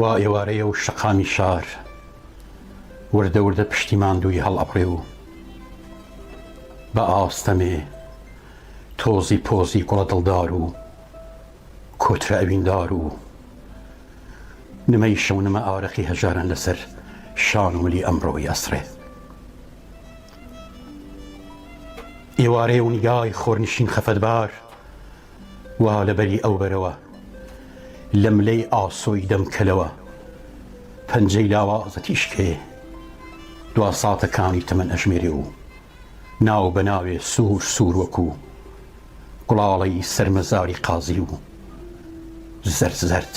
وا ئێوارەیە و شەقامی شار وردە وردە پشتی ماندووی هەڵئەبڕێ و بە ئاستەمێ تۆزی پۆزی گوڵە دڵدار و کۆترە ئەویندار و نمەی شەونمە ئارەقی هەژاران لەسەر شان و ملی ئەمڕۆی ئەسڕێ. ئێوارەیە و نیگای خۆرنشین خەفەتبار وا لە بەری ئەو بەرەوە لە ملەی ئاسۆی دەم کەلەوە پەنجەی لاوازە تیشکێ دوا ساتەکانی تەمەن ئەژمێرێ و ناو بە ناوێ سوور سوور وەکوو گوڵاڵەی سەرمەزاری قازی و زەرد زەرد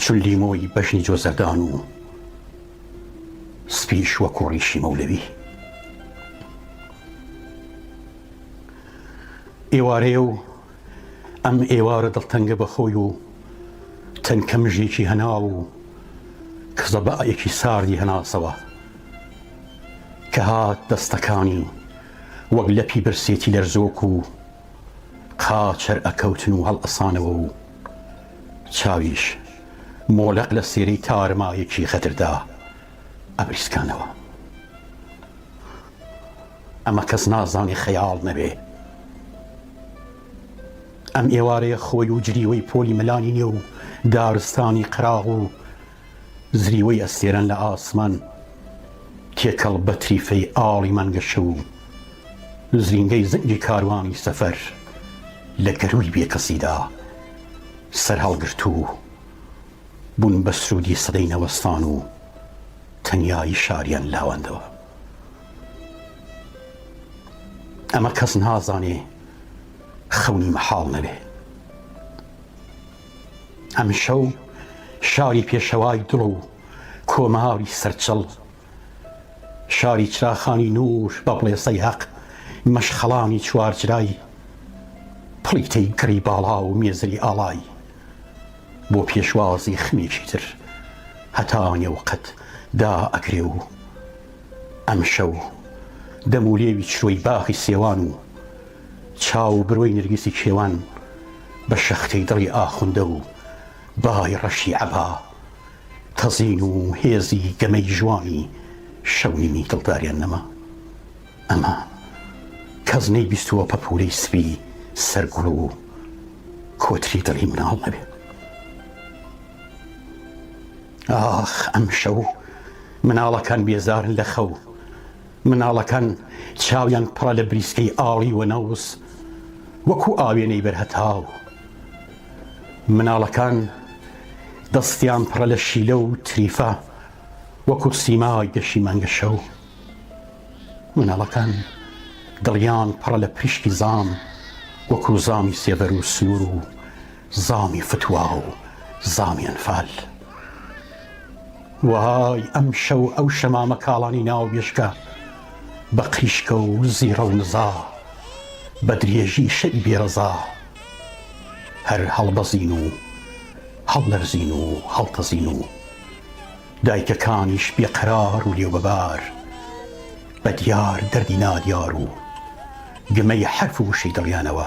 چون لیمۆی بەژنی جۆزەردان و سپیش وەکوو ڕیشی مەولەوی. ئێوارەیە و ئەم ئێوارە دڵتەنگە بە خۆی و تەنکە مژێکی هەناو و کزەبائەکی ساردی هەناسەوە کە هات دەستەکانی وەک لەپی برسێتی لەرزۆک و قاچەر ئەکەوتن و هەڵئەسانەوە و چاویش مۆلەق لە سێرەی تارمایەکی غەدردا ئەبریسکانەوە. ئەمە کەس نازانێ خەیاڵ نەبێ. ئەم ئێوارەیە خۆی و جریوەی پۆلی مەلانی نێو و دارستانی قەراغ و زریوەی ئەستێرەن لە ئاسمان تێکەڵ بە تریفەی ئاڵی مەنگەشە و زرینگەی زنگی کاروانی سەفەر لە گەرووی بێکەسیدا سەرهەڵگرتوو بوون بە سروودی سەدەی نەوەستان و تەنیایی شاریان لاواندەوە. ئەمە کەس نازانێ خەونی مەحاڵ نەبێ. ئەمشەو شاری پێشەوای دڵ و کۆماری سەرچڵ، شاری چراخانی نوور بە بڵێسەی هەق، مەشخەڵانی چوارجرای، پڵیتەی گڕی باڵا و مێزری ئاڵای، بۆ پێشوازی خمێکی تر هەتا نێوقەد دا ئەکرێ و، ئەمشەو دەم و لێوی چرۆی باخی سێوان و چاو و برۆی نرگسی کێوان بە شەختەی دڵی ئاخوندە و بای ڕەشی عەبا تەزین و هێزی گەمەی ژوانی شەونیمی دڵداریان نەما. ئەمە کەس نەیبیستووە پەپوولەی سپی سەر گوڵ و کۆتری دڵی مناڵ نەبێ. ئاخ ئەم شەو مناڵەکان بێزارن لە خەو مناڵەکان چاویان پڕە لە بریسکەی ئاڵی وەنەوز وەکو ئاوێنەی بەرهەتاو مناڵەکان دەستیان پڕە لە شیلە و تریفە وەکو سیمای گەشی مانگە شەو مناڵەکان دڵیان پڕە لە پریشکی زام وەکو زامی سێبەر و سنوور و زامی فتوا و زامی ئەنفال. وای ئەمشەو ئەو شەمامە کاڵانی ناو مێشکە بە قریشکە و زیڕە و نزا بە درێژی شەوی بێ ڕەزا هەر هەڵبەزین و هەڵلەرزین و هەڵتەزین و دایکەکانیش بێ قەرار و لێوبەبار بە دیار دەردی نادیار و گمەی حەرف و وشەی دڵیانەوە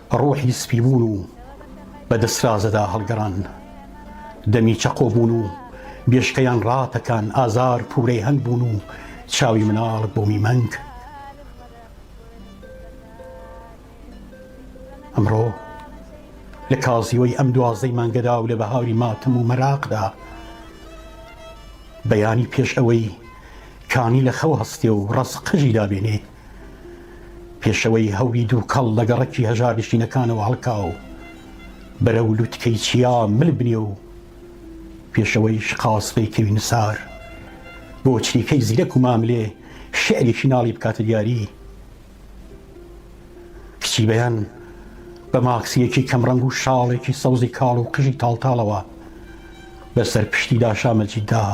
ڕۆحی سپی بوون و بە دەسرازدا هەڵگەڕان، دەمی چەقۆ بوون و بێشکەیان ڕاتەکان، ئازار پوورەی هەنگ بوون و چاوی مناڵ بۆمی مەنگ. ئەمڕۆ لە کازیوەی ئەم دوازدەی مانگەدا و لە بەهاری ماتەم و مەراقدا، بەیانی پێش ئەوەی کانی لە خەو هەستێ و ڕەز قژی دابێنێ، پێشەوەی هەوری دووکەڵ لە گەڕەکی هەژارنشینەکانەوە هەڵکا و بەرەو لوتکەی چیا مل بنێ و پێشەوەی شقاس پەیکەوی نوسار بۆ چریکەی زیرەک و ماملێ شعرێکی ناڵی بکاتە دیاری کچی بەیان بە ماکسیەکی کەمڕەنگ و شاڵێکی سەوزی کاڵ و قژی تاڵتاڵەوە بەسەر پشتی داشامەجیدا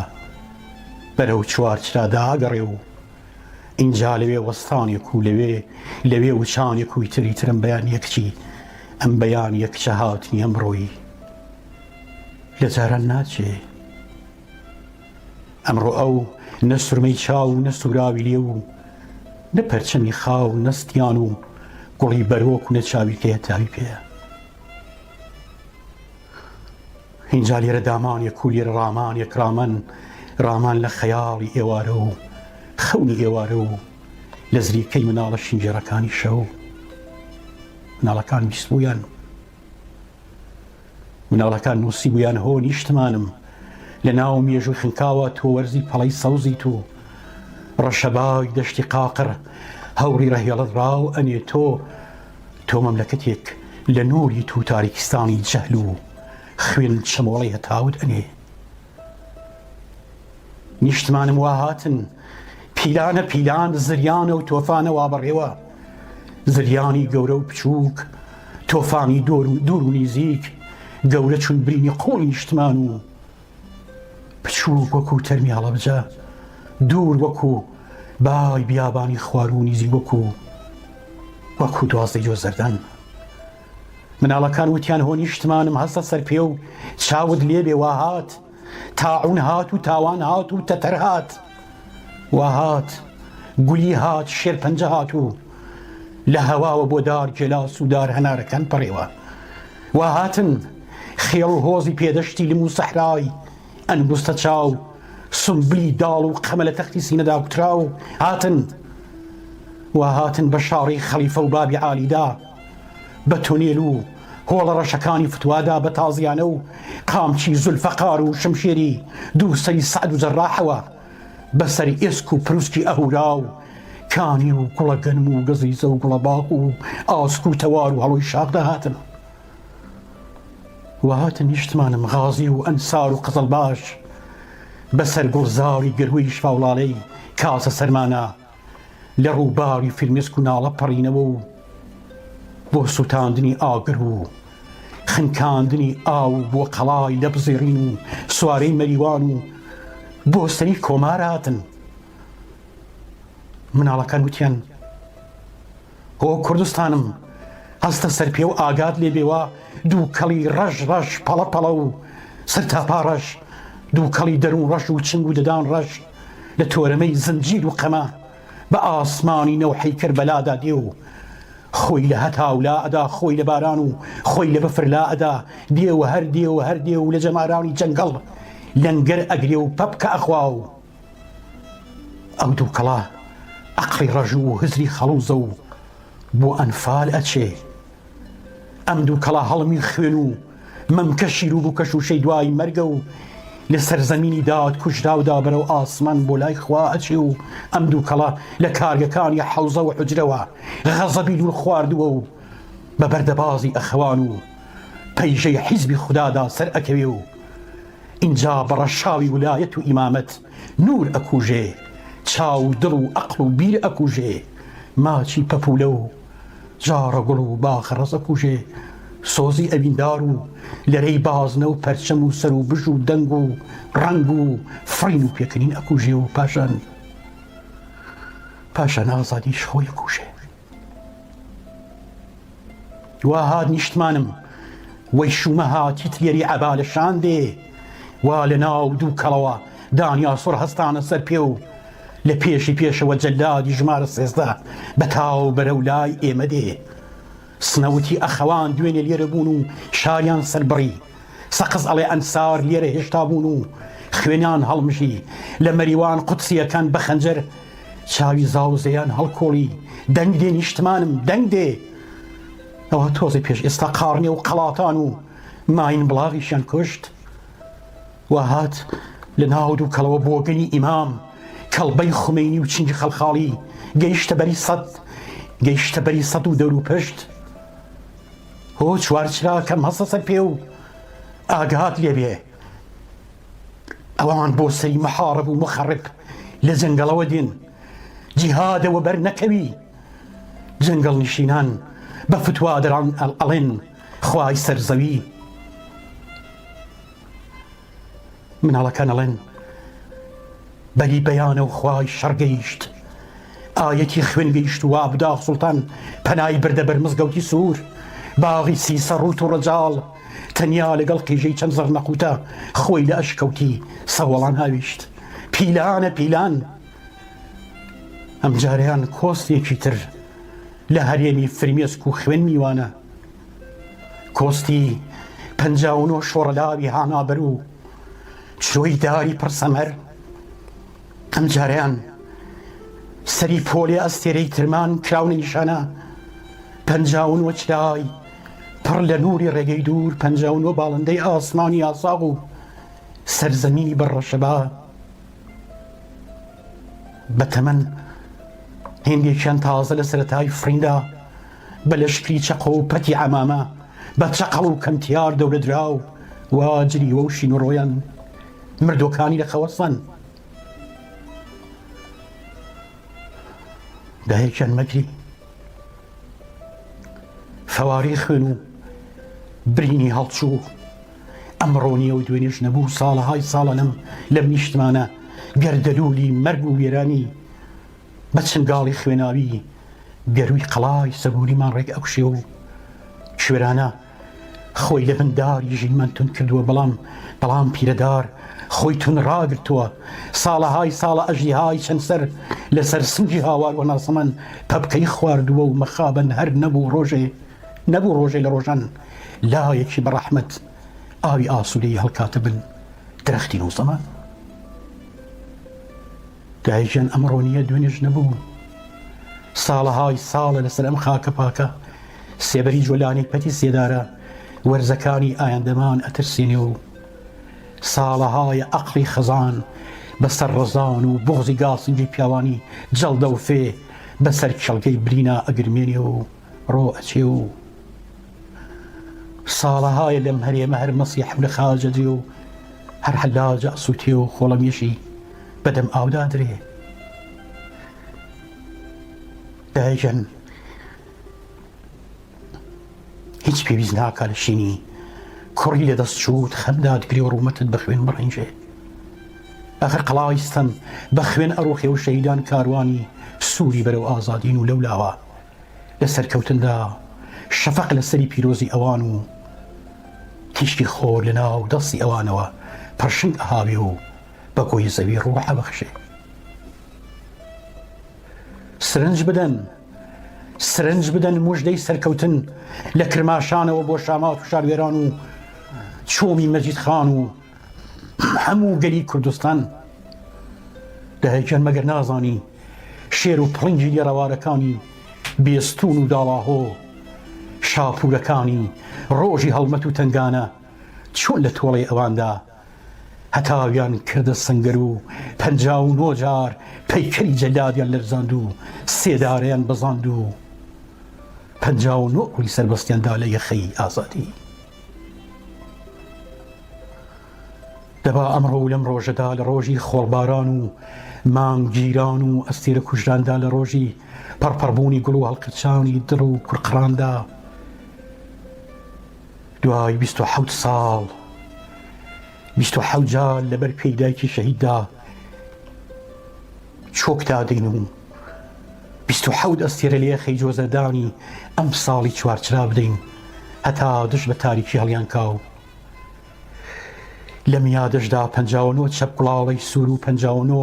بەرەو چوارچرادا ئەگەڕێ و ئینجا لەوێ وەستانێک و لەوێ لەوێ وچانێک و ئیتر ئیتر ئەم بەیانییە کچی ئەم بەیانییە کچە هاتنی ئەمڕۆیی لە جاران ناچێ ئەمڕۆ ئەو نە سرمەی چاو و نە سوراوی لێ و نە پەرچەمی خاو نەستیان و گوڵی بەرۆک و نە چاوی تێ تاوی پێە ئینجا لێرە دامانێک و لێرە ڕامانێک ڕامان ڕامان لە خەیاڵی ئێوارە و خەونی ئێوارە و لە زریکەی مناڵە شینگێڕەکانی شەو مناڵەکان بیست بوویان مناڵەکان نووسی بوویان هۆ نیشتمانم لە ناو مێژوو خنکاوە تۆ وەرزی پەڵەی سەوزی تو ڕەشەباوی دەشتی قاقڕ هەوری ڕەهێڵت ڕاو ئەنێ تۆ تۆ مەملەکەتێک لە نوریت و تاریکستانی جەهل و خوێن چەمۆڵەی هەتاوت ئەنێ. نیشتمانم وا هاتن پیلانە پیلان زریانە و تۆفانە وا بەڕێوە زریانی گەورە و بچووک تۆفانی دۆر و دوور و نیزیک گەورە چون برینی قوڵی نیشتمان و بچووک وەکوو تەرمی هەڵەبجە، دوور وەکوو بای بیابانی خوار و نیزیک وەکوو وەکوو دوازدەی جۆزەردان. مناڵەکان وتیان هۆ نیشتمانم هەستە سەر پێ و چاوت لێ بێ وا هات، تاعوون هات و تاوان هات و تەتەر هات، وا هات، گولی هات، شێرپەنجە هات و لە هەواوە بۆ دار گێلاس و دار هەنارەکان پەڕێوە. وا هاتن خێڵ و هۆزی پێدەشتی لم و سەحرای ئەنگوستە چاو، سونبلی داڵ و قەمە لە تەختی سینەدا کوتراو هاتن. وا هاتن بە شاڕی خەڵیفە و بابی عالیدا، بە تونێل و هۆڵە ڕەشەکانی فتوادا، بە تازیانە و قامچی زولفەقار و شمشێری دوو سەری سەعد و جەرراحەوە، بە سەر ئێسک و پروسکی ئەهورا و کانی و کوڵە گەنم و گەزیزە و گوڵە باخ و ئاسک و تەوار و هەڵۆی شاخ دەهاتن و هاتن نیشتمانم غازی و ئەنسار و قزڵباش بەسەر گوڵزاری گەرووی شاوڵاڵەی کاسە سەرمانا لە ڕووباری فرمێسک و ناڵە پەڕینەوە و بۆ سووتاندنی ئاگر و خنکاندنی ئاو و بۆ قەڵای لە بزیڕین و سوارەی مەریوان و بۆ سەری کۆماراتن مناڵەکان وتیان هۆ کوردستانم هەستە سەرپێ و ئاگات لێ بێ وا دووکەڵی ڕەش ڕەش پەڵە پەڵە و سەرتاپا ڕەش دووکەڵی دەروون ڕەش و چنگ و ددان ڕەش لە تۆرەمەی زنجیر و قەمە بە ئاسمانی نەوحەی کەربەلادا دێ و خۆی لە هەتاو لا ئەدا خۆی لە باران و خۆی لە بەفر لا ئەدا دێ و هەر دێ و هەر دێ و لە جەمارانی جەنگەڵ لەنگەر ئەگرێ و پەپکە ئەخوا و ئەو دووکەڵە ئەقڵی ڕەژوو و هزری خەڵوزە و بۆ ئەنفال ئەچێ ئەم دووکەڵە هەڵمی خوێن و مەمکە شیر و بووکەش و شەی دوایی مەرگە و لە سەرزەمینی داوات کوژراودا بەرەو ئاسمان بۆ لای خوا ئەچێ و ئەم دووکەڵە لە کارگەکانی حەوزە و حجرەوە غەزەبی دوور خواردووە و بە بەردەبازی ئەخەوان و پەیژەی حیزبی خودادا سەر ئەکەوێ و ئینجا بە ڕەشاوی ولایەت و ئیمامەت نور ئەکوژێ چاو و دڵ و ئەقڵ و بیر ئەکوژێ ماچی پەپولە و جاڕە گوڵ و باخە ڕەز ئەکوژێ سۆزی ئەویندار و لەرەی بازنە و پەرچەم و سەر و بژ و دەنگ و ڕەنگ و فڕین و پێکەنین ئەکوژێ و پاشان پاشان ئازادیش خۆی ئەکوژێ. وا هات نیشتمانم وەی شوومە هاتی تیەری عەبا لە شان دێ وا لە ناو دوو کەڵەوە دانیاسۆر هەستانە سەر پێ و لە پێشی پێشەوە جەلادی ژمارە سێزدە بە تاو بەرە و لای ئێمە دێ سنەوتی ئەخەوان دوێنێ لێرە بوون و شاریان سەربڕی سەقز ئەڵێ ئەنسار لێرە هێشتا بوون و خوێنیان هەڵمژی، لە مەریوان قودسییەکان بە خەنجەر چاوی زاوزێیان هەڵکوڵی، دەنگ دێ نیشتمانم، دەنگ دێ! ئەوە تۆزێ پێش ئێستا قاڕنێ و قەڵاتان و ماین بڵاغیشیان کوشت. وا هات لە ناو دووکەڵەوە بۆگەنی ئیمام، کەڵبەی خومەینی و چنگی خەڵخاڵی گەیشتە بەری سەد، گەیشتە بەری سەد و دەوروپشت. هۆ چوار چرا کەم هەستە سەر پێ و ئاگات لێ بێ ئەوان بۆ سەری مەحاڕب و مخەڕب لە جەنگەڵەوە دێن جیهادەوە بەر نەکەوی جەنگەڵ نشینان بە فتوادران ئەڵێن خوای سەرزەوی مناڵەکان ئەڵێن بەلی بەیانە و خوای شەڕ گەیشت ئایەتی خوێن گەیشت و ئابداغ سوڵتان پەنای بردە بەر مزگەوتی سوور باغی سیسە ڕووت و ڕەجاڵ تەنیا لەگەڵ قیژەی چەند زەڕنەقوتە خۆی لە ئەشکەوتی سەوەڵان هاویشت پیلانە پیلان ئەمجاریان کۆستێکی تر لە هەرێمی فرمێسک و خوێن میوانە کۆستی پەنجا و نۆ شۆڕەلاوی هانابەر و چرۆی داری پڕ سەمەر ئەمجارەیان سەری پۆلی ئەستێرەی ترمان کراونە نیشانە پەنجا و نۆ چرای پڕ لە نووری ڕێگەی دوور پەنجا و نۆ باڵندەی ئاسمانی ئاساغ و سەرزەمینی بەڕەشەبا بە تەمەن هندێکیان تازە لە سەتای فریندا بە لەشکری چەقۆ و پەتی عەمامە، بە چەقەڵ و کەمتیار دەورەدراو، وا جریوە و شین و ڕۆیان، مردووەکانی لە خەوەسەن. دایەکیان مەگری فەوارەی خوێن و برینی هەڵچوو، ئەمڕۆ نییە و دوێنێش نەبوو، ساڵەهای ساڵە لەم نیشتمانە گەردەلوولی مەرگ و وێرانی بە چنگاڵی خوێناوی گەرووی قەڵای سەبووریمان ڕێک ئەکوشێ و کوێرانە خۆی لە بن داری ژینمان تون کردووە بەڵام بەڵام پیرەدار خۆی تون ڕاگرتووە ساڵەهای ساڵە ئەژیهای چەند سەر لەسەر سنگی هاوار و ناسەمەن پەپکەی خواردووە و مەخابن هەر نەبوو ڕۆژێ نەبوو ڕۆژێ لە ڕۆژان لایەکی بەڕەحمەت ئاوی ئاسوودەی هەڵکاتە بن درەختی نووسەمان دایە گیان ئەمڕۆ نییە دوێنێش نەبوو ساڵەهای ساڵە لەسەر ئەم خاکە پاکە سێبەری جۆلانی پەتی سێدارە وەرزەکانی ئایندەمان ئەترسێنێ و ساڵەهایە ئەقلی خەزان بەسەر ڕزان و بغزی گاسنجی پیاوانی جەڵدە و فێ بەسەر کێڵگەی برینا ئەگرمێنێ و ڕۆ ئەچێ و ساڵەهایە لەم هەرێمە هەر مەسی حەولە خاج ئەدرێ و هەر حەلاج ئەسووتێ و خۆڵەمێشی بەدەم ئاودا ئەدرێ. دایکیان هیچ پێویست ناکا لە شینی کوڕی لە دەست چووت خەمدا دگرێ و ڕوومەتت بە خوێن بڕنجێ ئەخر قەڵاویستم بە خوێن ئەڕۆخێ و شەیدان کاروانی سووری بەرەو ئازادین و لەولاوە لە سەرکەوتندا شەفەق لە سەری پیرۆزی ئەوان و تیشکی خۆر لە ناو دەستی ئەوانەوە پڕشنگ ئەهاوێ و بە گۆی زەوی ڕووح ئەبەخشێ سرنج بدەن سرنج بدەن مژدەی سەرکەوتن لە کرماشانەوە بۆ شامات و شاروێران و چۆمی مەجید خان و هەموو گەلی کوردستان دەهێکێن مەگەر نازانی شێر و پڵنگی لێڕەوارەکانی بێستوون و داڵاهۆ، شاپوورەکانی ڕۆژی هەڵمەت و تەنگانە چۆن لە تۆڵەی ئەواندا هەتاویان کردە سەنگەر و پەنجا و نۆ جار پەیکەری جەلادیان لەرزاند و سێدارەیان بەزاند و پەنجا و نۆ کولی سەربەستیان دا لە یەخەی ئازادی. دەبا ئەمڕۆ و لەم ڕۆژەدا لە ڕۆژی خۆڵباران و مانگ گیران و ئەستێرە کوژراندا لە ڕۆژی پەڕپەڕبوونی گوڵ و هەڵقرچانی دڕ و کورقڕاندا دوای بیست و حەوت ساڵ بیست و حەوت جار لەبەر پێی دایکی شەهیددا چۆک دادەین و بیست و حەوت ئەستێرە لە یەخەی جۆزەردانی ئەمساڵی چوارچرا بدەین هەتا دژ بە تاریکی هەڵیانکاو لە میادشدا پەنجا و نۆ چەپ گوڵاڵەی سوور و پەنجا و نۆ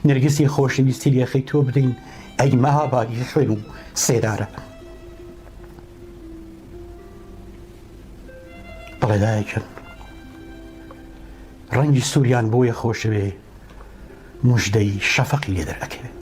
نرگسی خۆشەویستی لێخەی تۆ بدەین ئەی مەهابادی خوێن و سێدارە بەڵێ دایکن ڕەنگی سووریان بۆیە خۆشەوێ مژدەی شەفەقی لێ دەرەکەوێت